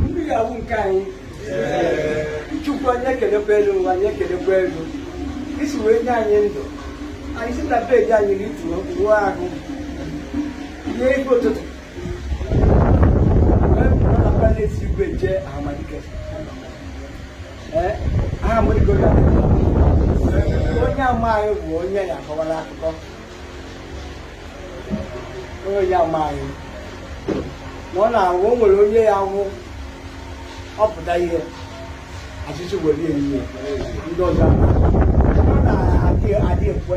mmiri awụ nke anyị chukwu anyị ekelekwa elu ụwa anyị ekelekwa etu i si wee nye anyị ndụ anyị si na beji anyị rituo wụọ ahụ rie ife ụtụtụ wee pụọ na palesi igwe jee ahamadike aha m onye ama anyị bụ onye ya akọwara akụkọ onye ama anyị na ọ na-awụ o nwere onye ya wụ ọpụta ihe achịchị were ehihie ndị ọzọ ọ na-adị adị ekwe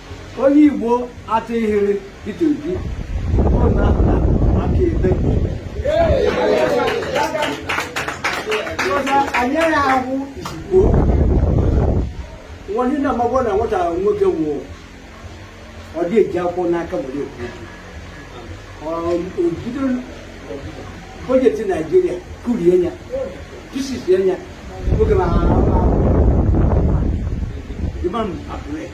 onye Igbo atụghịrị Peter Obi ọ na-ahụta aka ebe anyere ahụ ezigbo nwanne na amagbo na nwata nwoke nwụọ ọ dị eji akwụkwọ n'aka were ekwu obido bọjeti naijiria kurie ya jisisie ya nwoke na imam abdulai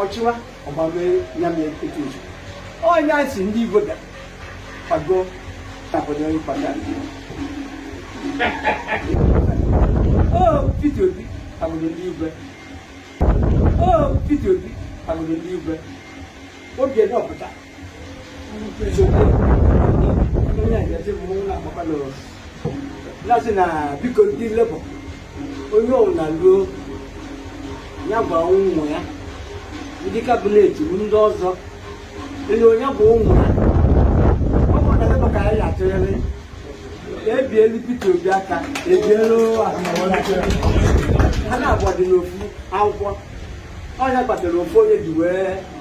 ọchịwa ọgbamee ya mee etu uche onye anyị si ndị igbo bịa kwago na obodo ịkwado Peter Obi agbụrụ ndị igwe Peter Obi agbụrụ ndị igwe oge na ọpụta na-asị na biko ndị lebọ onye ọbụla ruo ya gwa ụmụ ya ndị kabinet ndị ọzọ ele onye bụ ụmụ ya ọ bụrụ na lebọ ka anyị atụnyere ebielu Peter Obi aka ebielu ha naabọ dị n'ofu akwụkwọ ọ ya kpatara ofu onye ji wee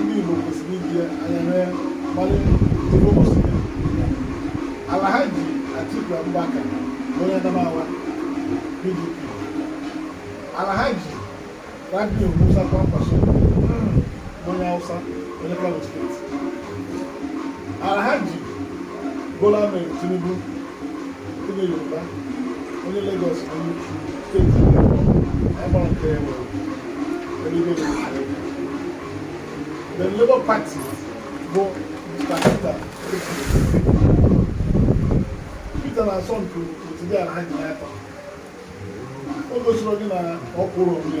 ndị Igbo kwesịrị iji anya mee mgbalị Alhaji Atiku Abubakar onye Adamawa PDP Alhaji Rabiu Musa Kwankwaso onye Hausa onye Kano steeti Alhaji Bola Ahmed Tinubu The Labour Party bụ Mr. Peter Peter na asọmpi otu dị Alhaji n'aka o gosiri gị na ọ kwụrụ onwe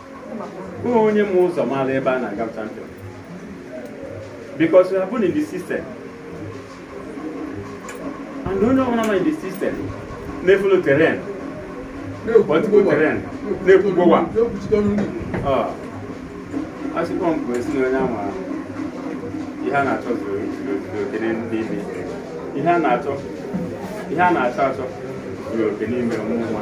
onye ma ụzọ mara ebe a na-aga champion because we have been in the system and onye ọbụla nọ in the system na-efolo terrain ọtụtụ terrain na-ekwugbowa asịkpọ m bụ esi na onye ama ihe a na-achọ zuru oke n'ime ihe a na-achọ ihe a na-achọ achọ zuru oke n'ime mmụọ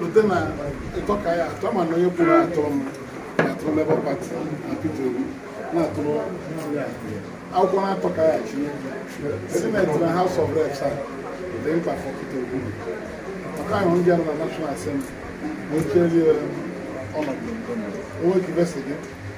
lute na ịtọ ka ya atọ mana onye kwuru atọ m atụrụ Labour Party na Peter Obi na-atụrụ akwụkwọ na-atọ ka ya chi Senate na House of Reps a dị mkpa for Peter Obi maka ahụ ndị na National Assembly na oche ọnọdụ onwe ka gị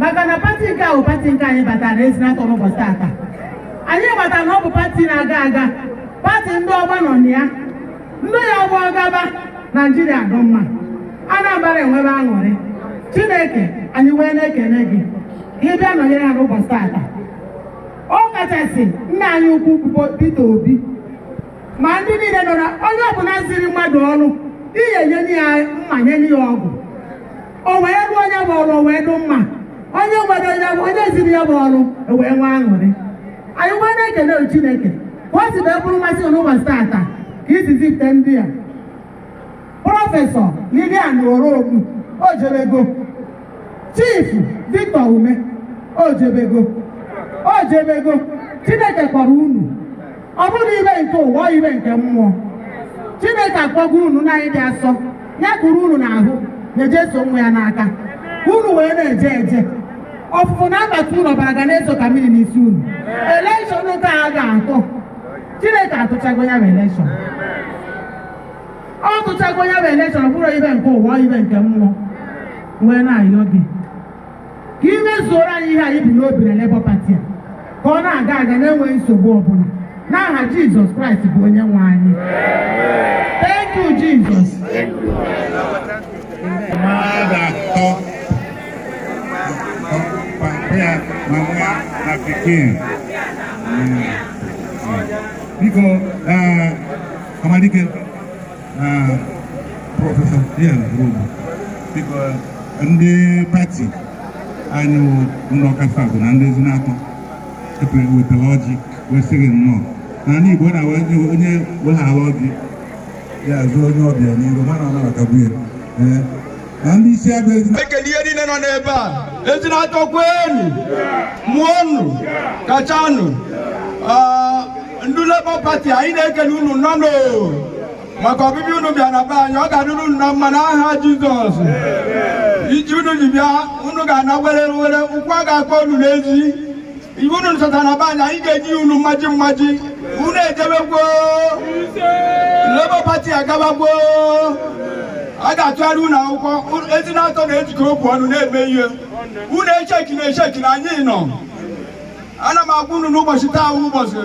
maka na pati nke ahụ pati nke anyị batara na ezinatọ n'ụbọchị tata anyị mata na ọ bụ pati na-aga aga pati ndị ọma nọ na ya ndị ya-abụ ọ gaba naijiria dị mma anambra enwebe aṅụrị chineke anyị wee na-ekene gị ka ị bịa nọnyere ha n'ụbọchị tata ọ kachasị nna anyị ukwu bụ Peter Obi ma ndị niile nọ na onye ọbụla ziri mmadụ ọrụ ye-enye ya mma nye ya ọgụ o wee rụọ nya bụ ọrụ o wee dụ mma onye nwere onye ziri ya bụ ọrụ o wee nwee aṅụrị anyị wee na-ekene Chineke ka o si wee bụrụ mmasị n'ụbọchị taata ka i si zipụta ndị a prọfesọ Lilian Orogbu o jebego chief Victor Umeh o jebego o jebego Chineke kpọrọ unu ọ bụrụ ibe nke ụwa ibe nke mmụọ chineke akpọgo unu nne anyị dị asọ ya-ekuru unu n'ahụ na Jeso nwa ya n'aka unu wee na-eje eje ọfụfụ na mbata unu ọbara ga na-ezo ka mmiri n'isi unu elekshọn nke a ga-atụ chineke atụchago ya bụ elekshọn ọ tụchago ya bụ elekshọn ọ bụrụ ibe nke ụwa ibe nke mmụọ wee na-ayọ gị ka ị mezuoro anyị ihe anyị bu n'obi na Labour Party a ka ọ na-aga aga na-enweghị nsogbu ọbụla n'aha Jizọs Kraịst bụ onye nwe anyị thank you Jizọs mmadụ atọ papa mama na pikin biko Ọhamadike prọfesọ Lilian Orogbu biko ndị pati anyị wụ ndị Ọka South na ndị Ezinatọ ebe a wetara ọjị wee sị gị nnọọ na ndị Igbo na onye weghara ọjị ya azụ onye ọbịa n'iru ma na ọ nabatago ya na ndị isi ebe ezi ekele ihe niile nọ n'ebe a Ezinatọ kwenu mụọnụ kachanụ Ah, ndị Labour Party anyị na-ekele unu nọnụ maka ọbịbịa unu bịa na be anyị ọ ga-adịrị unu na mma n'aha Jizọs ije unu ji bịa unu ga-ana werewere ụkwụ a ga-akpọ unu n'ezi ife unu chọtara na be anyị anyị ga-enye unu mmaji mmaji unu ejebegwo Labour Party agabagwo a ga-atụgharị unu akwụkwọ Ezinatọ na-ejikọ okwu ọnụ na-eme ihe unu echeki na echeki na anyị nọ ana m agwa unu n'ụbọchị taa ụbọchị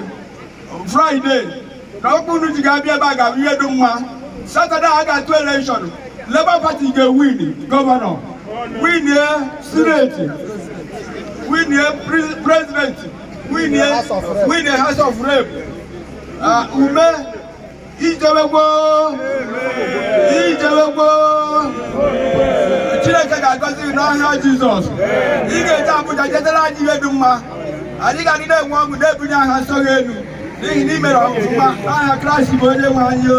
fraịde na okwu unu ji ga-abịa ebe a ga-abụ ihe dị mma satọde a ga-atụ elekshọn Labour Party ga-ewin gọvanọ winie sineti winie prezidenti winie House of Rep ah, Umeh ijebegwo ijebegwo chineke ga-agọzi gị n'aha jizọs ị ga-eje Abuja jetara anyị ihe dị mma anyị ga-adị na-enwe ọṅụ na-ebunye aha nsọ gị elu n'ihi na ị mere ọfụma n'aha kraịst bụ onye nwe anyị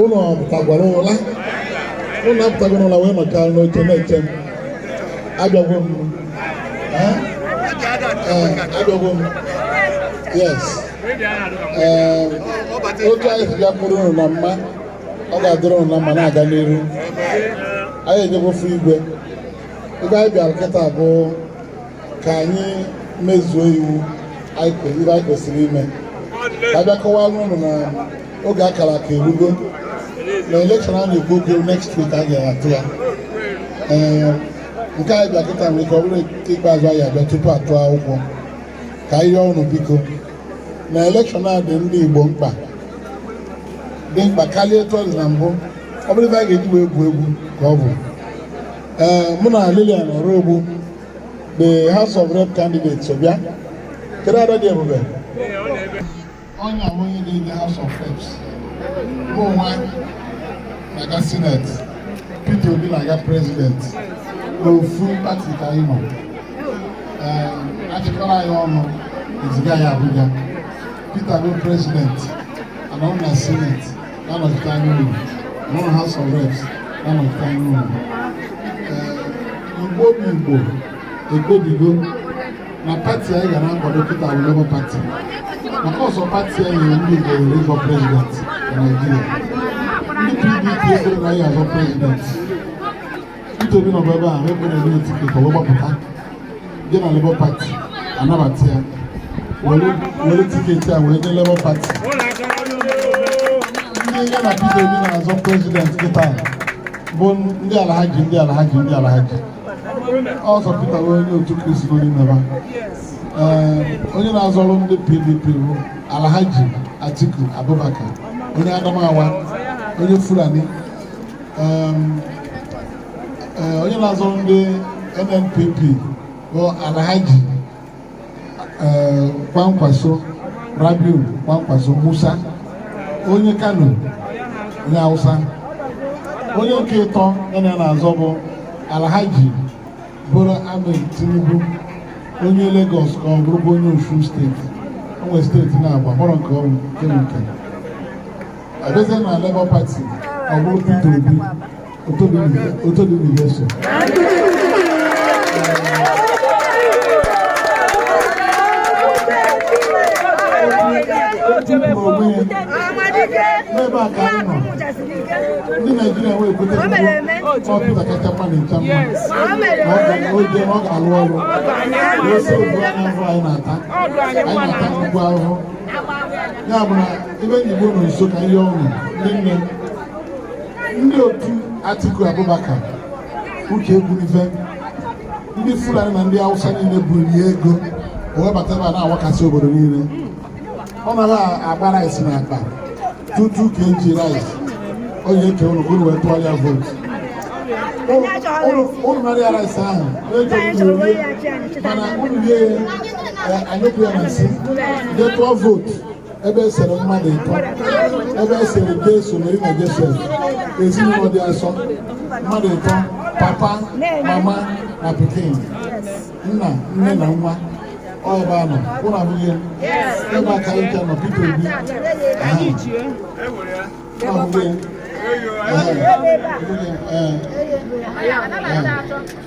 ụnụ pụtagwara ụla ụnụ apụtagwara ụla wee nọcha n'oche na-eche m abịagwo m abịagwo m yes otu anyị si bịakwuru ụnụ na mma ọ ga-adịrị ụnụ na mma na-aga n'iru anyị ejegwo fụ igwe ife anyị bịara kịta bụ ka anyị mezuo iwu ife anyị kwesịrị ime ka a bịa kọwara ụnụ na oge akara aka erugo na elekshọn a na-ekwu okwu next week a ga-atụ ya ee nke anyị bịa kịta nwere ike ọ bụrụ ikpeazụ anyị abịa tupu a tụ akwụkwọ ka anyị rịọ ụnụ biko na elekshọn a dị ndị Igbo mkpa dị mkpa karịa etu ọ dị na mbụ ọ bụrọ ife anyị ga-eji wee egwu egwu ka ọ bụ ee mụ na Lilian Orogbu the House of Rep candidate so bịa kedu ada dị ebube ọ nya bụ onye dị the House of Reps mụnwa na-aga Senate Peter Obi na-aga President n'ofu pati ka anyị nọ achịkọrọ anyị ọnụ eziga anyị Abuja Peter bụ President anọ m na Senate na-anọchite anya unu ọ nọ na House of Reps na-anọchite anya unu igbo bụ igbo ekpebigo na pati anyị ga na-akwado kịta bụ Labour Party maka ọ sọ pati anyị nyere ndị igbo ohere ịzọ prezident na Naịjirịa ndị PDP ekwerọ na anyị azọ prezident Peter Obi nọbụ ebe a ekwerọ enye tiketi wee gbapụta jee na Labour Party anabata ya were tiketi a wee nye Labour Party ndị ya na Peter Obi na-azọ prezident kịta bụ ndị Alhaji ndị Alhaji ndị Alhaji sọ Peter bụ onye otu Kristi n'ime fa ee onye na-azọrọ ndị PDP bụ Alhaji Atiku Abubakar onye Adamawa onye Fulani eh, onye na-azọ ndị NNPP bụ Alhaji eh, Kwankwaso Rabiu Kwankwaso Musa onye Kano onye Hausa onye nke ịtọ ya na na-azọ bụ Alhaji Bola Ahmed Tinubu onye Lagos ka ọ bụrụkwa onye Osun steeti o nwe steeti na-agba kpọrọ nke ọrụ nke nke abịazie na Labour Party ọ bụrụ Peter Obi Otito dịlị Jeso n'ebe a ka anyị nọ ndị Naijiria wee kweta ọ Peter kacha mma na ncha mma oge ọ ga-alụ ọrụ n'ose ugbu a ahụhụ anyị na-ata anyị na-ata nnukwu ahụhụ ya bụ na ebe Igbo nọ nso ka ihe ọṅụ niile ndị otu Atiku Abubakar uche egbunife ndị Fulani na ndị Hausa niile bunye ya ego o webata ebe a na-awakasị obodo niile ọ na-agba rice na akpa two two kg rice ọ ya-eke ụnụ ụnụ wee tụara ya vootu ụnụ nara ya rice ahụ ekenye mana ụnụ rie anyị kwuo na-asị jee tụọ vootu ebe esere mmadụ ịtọ ebe esere Jesu Mary na Josef ezinụlọ dị asọ mmadụ ịtọ papa mama na pikin nna nne na nwa ọba anọ ụnụ abụghị ebe aka ịcha nọ Peter Obi ahụ abụghị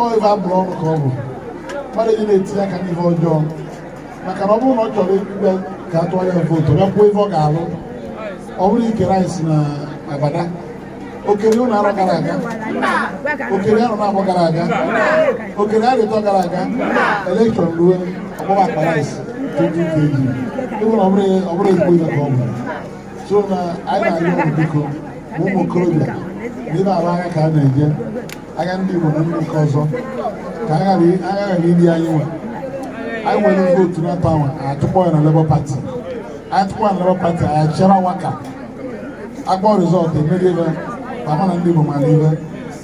ọ ife abụrụ ọnụ ka ọ bụ mmadụ eji na-etinye aka n'ihe ọjọọ maka na ọ bụrụ na ọ chọrọ ikpe ka a tụọ ya vootu ya kwuo ife ọ ga-alụ ọ bụrọ ike rice na abada o kerọ ụnụ arọ gara aga o kerọ arọ n'abọ gara aga o kerọ arọ ịtọ gara aga elekshọn ruo ọ gbaba akpa rice 2 kg ịbụrụ ọ bụrụ ezigbo ife ka ọ bụ so na anyị na-arịọ biko ụmụ okorobịa ndị na-alụ agha ka a na-eje agha ndị Igbo na ndị nke ọzọ ka agha ghara iri anyị nwe anyị were vootu na tawa atụkpọ ya na Labour Party anyị tụkpọ ya na Labour Party anyị cherewa ka a kpọọ rizọtụ emerie fa amara na ndị Igbo mara ife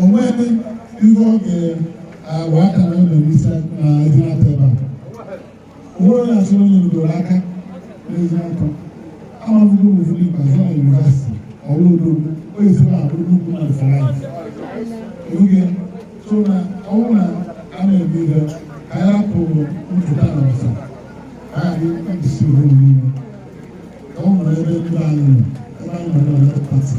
onweghị ihe ọ ga-agba aka na ụlọ n'isi na ezinatọ ebe a onwe onye asị onye rugoro aka n'ezinatọ amaghịgo m ụfọdụ ikpeazụ na yunivasiti ọrụ odo onye si na abụrụ nnukwu na fọlaịt oge so na ọnwụ na a na-eme ihe ka anyị rapụ mpụta na ọsa ka anyị isi ohere niile ka ọ nwere ebe ndị anyị nọ ebe anyị nọ na pati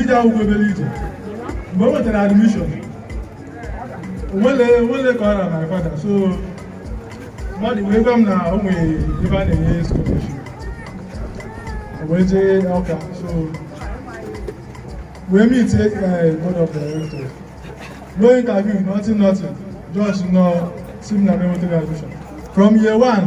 ije akwụkwọ obere ije mgbe m nwetara admission nwele ka ọ na my father so mmadụ wee gwa m na o nwere ebe a na-enye scholarship wee jee Ọka so wee meet eh, board of directors no interview nothing nothing just nọ si m na m nwetara admission from year one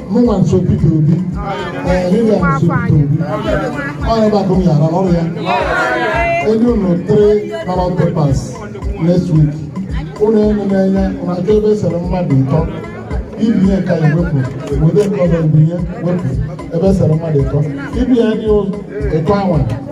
mụnwa na-eso Peter Obi ee Lilian na-eso Peter Obi ọnya bụ akụ m yara ọrụ ya e nye unu three ballot papers next week unu enee anya unu achọ ebe esere mmadụ ịtọ ibinye nke anyị wepụ obodo nke ọzọ ibinye wepụ ebe esere mmadụ ịtọ ibinye anyị ịtọ anwa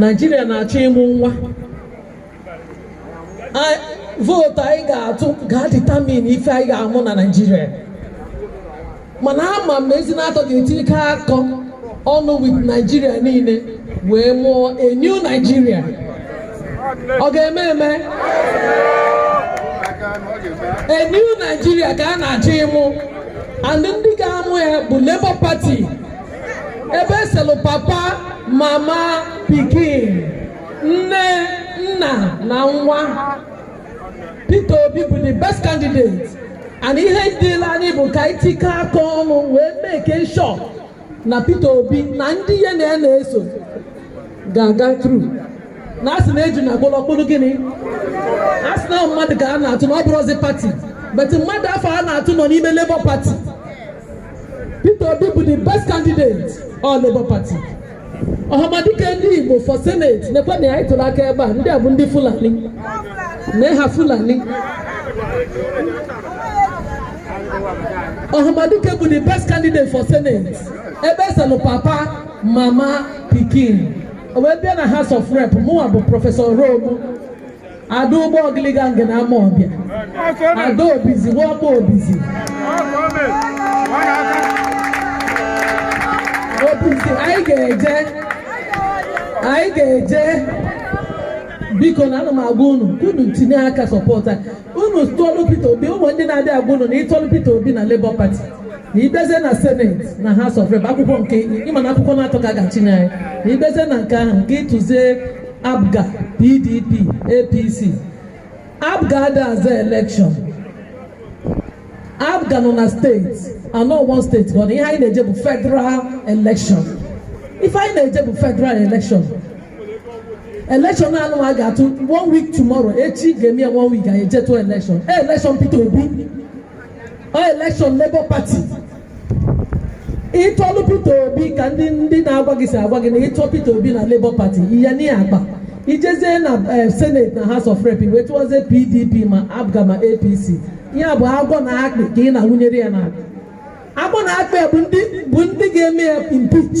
Naijiria na-achọ ịmụ nwa vote anyị ga-atụ ga-determine ife anyị ga-amụ na Naijiria mana ama m na Ezinatọ ga-etikọ aka ọnụ with Naijiria niile wee mụọ a new Naijiria ọ ga-eme eme a new Naijiria ka a na-achọ ịmụ and ndị ga-amụ ya bụ Labour Party ebe eselụ papa mama pikin nne nna na nwa Peter Obi bụ the best candidate and ihe dịlị anyị bụ ka anyị tikọ aka ọnụ wee make sure na Peter Obi na ndị ya na ya na-eso ga-aga through na asị na eju na agbụrụ ọkpụrụ gịnị asị na mmadụ ka a na-atụ na ọ bụrọzi party but mmadụ afụ a na-atụ nọ n'ime Labour Party Peter Obi bụ the best candidate on Labour Party Ọhamadike ndị Igbo for Senate nekwe na anyị tụrụ aka ebe a ndị a bụ ndị Fulani na ha Fulani Ọhamadike bụ the best candidate for Senate ebe eselụ papa mama pikin wee bịa na House of Rep mụnwa bụ Professor Orogbu ada Ugbo Ogiliga nke na Amawbia ada obizi nwakpo obizi obizi anyị ga-eje biko na ana m agwa unu ka unu tinye aka sọpọta unu tụọlụ Peter Obi o nwe ndị na-abịa agwa unu na ị tụọlụ Peter Obi na Labour Party na ị bịazie na seneti na House of Rep akwụkwọ nke ị ma na akwụkwọ na-atọ ka a ga-achịnye anyị na ị bịazie na nke ahụ nke ị tụzie APGA, PDP, APC. APGA adịghị azọ elekshọn. APGA nọ na steeti anọ one steeti but ihe anyị na-eje bụ federal election ife anyị na-eje bụ federal election election anụwa anyị ga-atụ one week tomorrow echi ga-eme ya one week anyị eje tụ election election Peter Obi ọ elekshọn Labour Party ị tụọlụ Peter Obi ka ndị ndị na-agwa gị si agwa gị na ị tụọlụ Peter Obi na Labour Party ihe n'ihe akpa i jezie na eh, senate na house of rep wee tụwazie pdp ma apga ma apc ya bụ agwọ na akpị ka ị na-awụnyere ya n'aka agwọ na akpị bụ ndị ga-eme ya impeach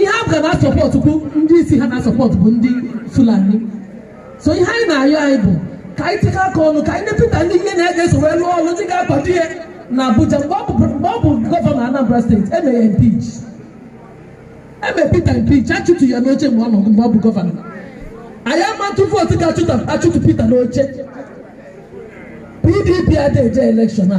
ihe APGA na-asọpọtụ bụ ndị isi ha na-asọpọtụ bụ ndị Fulani so ihe anyị na-ayọ anyị bụ ka anyị tikọọ aka ọnụ ka anyị nye Peter ndị ya na ha ga-eso wee lụọ ọrụ ndị ga-akwado ya na Abuja mgbe ọ bụ gọvanọ Anambra steeti e mee ya impeach e mee Peter impeach achụtụ ya n'oche mgbe ọ nọ mgbe ọ bụ gọvanọ anyị ama atụ vootu ga-achụtụ Peter n'oche PDP adịghị eje elekshọn a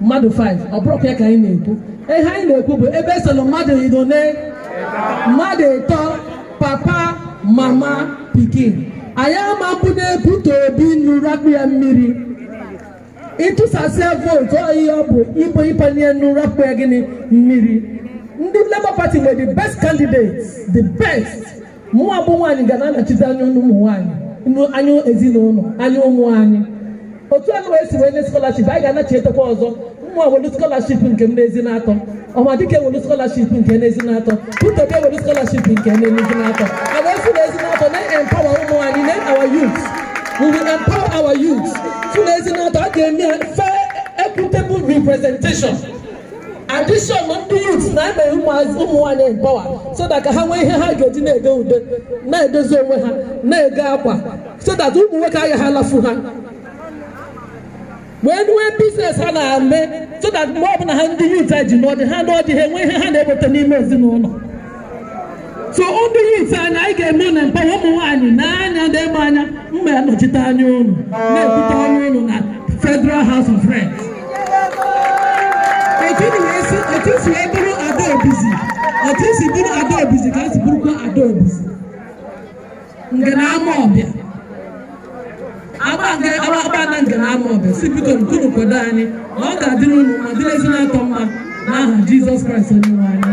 mmadụ 5 ọ bụrọkwa ya ka anyị na-ekwu ihe anyị na-ekwu bụ ebe e selu mmadụ ịnọ mmadụ ịtọ papa mama pikin anyị ama mbụ na-ebute Obi nri akpụ ya mmiri ị tụsasịa vootu ihe ọ bụ bụ ị panye ya nri akpụ ya gịnị mmiri ndị Labour Party nwere the best candidates the best mụwa bụ nwaanyị ga na-anọchite anya ụmụ nwaanyị anya ezinụlọ anya ụmụ anyị otu a wee si wee nye skọlaship anyị ga-anachitekwa ọzọ mụwa ewelu skọlaship nke m n'Ezinatọ Ọhamadike ewelu skọlaship nke n'Ezinatọ Peter Obi ewelu skọlaship nke n'Ezinatọ e wee si n'Ezinatọ na-empower ụmụ nwaanyị na our youth we will empower our youth si n'Ezinatọ a ga-eme fair equitable representation adishọn ndị yut na-eme ụmụazị ụmụ nwaanyị empower so that ka ha nwee ihe ha ga-eji na-ete ude na-edozi onwe ha na-ego akwa so that ụmụ nwoke agaghị alafu ha wee nwee biznes ha na-eme so that mgbe ọbụla ha ndị yut a jee nụọ di ha nụọ di ha enwe ihe ha na-eweta n'ime ezinụlọ so ndị yut anyị anyị ga-eme ha empower ụmụ nwaanyị n'anya ndị ịgba anya m ya-anọchite anya unu na-ekwute ọnụ unu na Federal House of Reps otu unu wee si otu e si wee bụrụ ada obizi otu e si bụrụ ada obizi ka e si bụrụkwa ada obizi nke na-ama ọbịa agbada nke na-ama ọbịa sị bikonụ ka unu kwado anyị na ọ ga-adịrị unu ma dịrị ezinaụlọ mma n'aha Jizọs Kraịst onye nwe anyị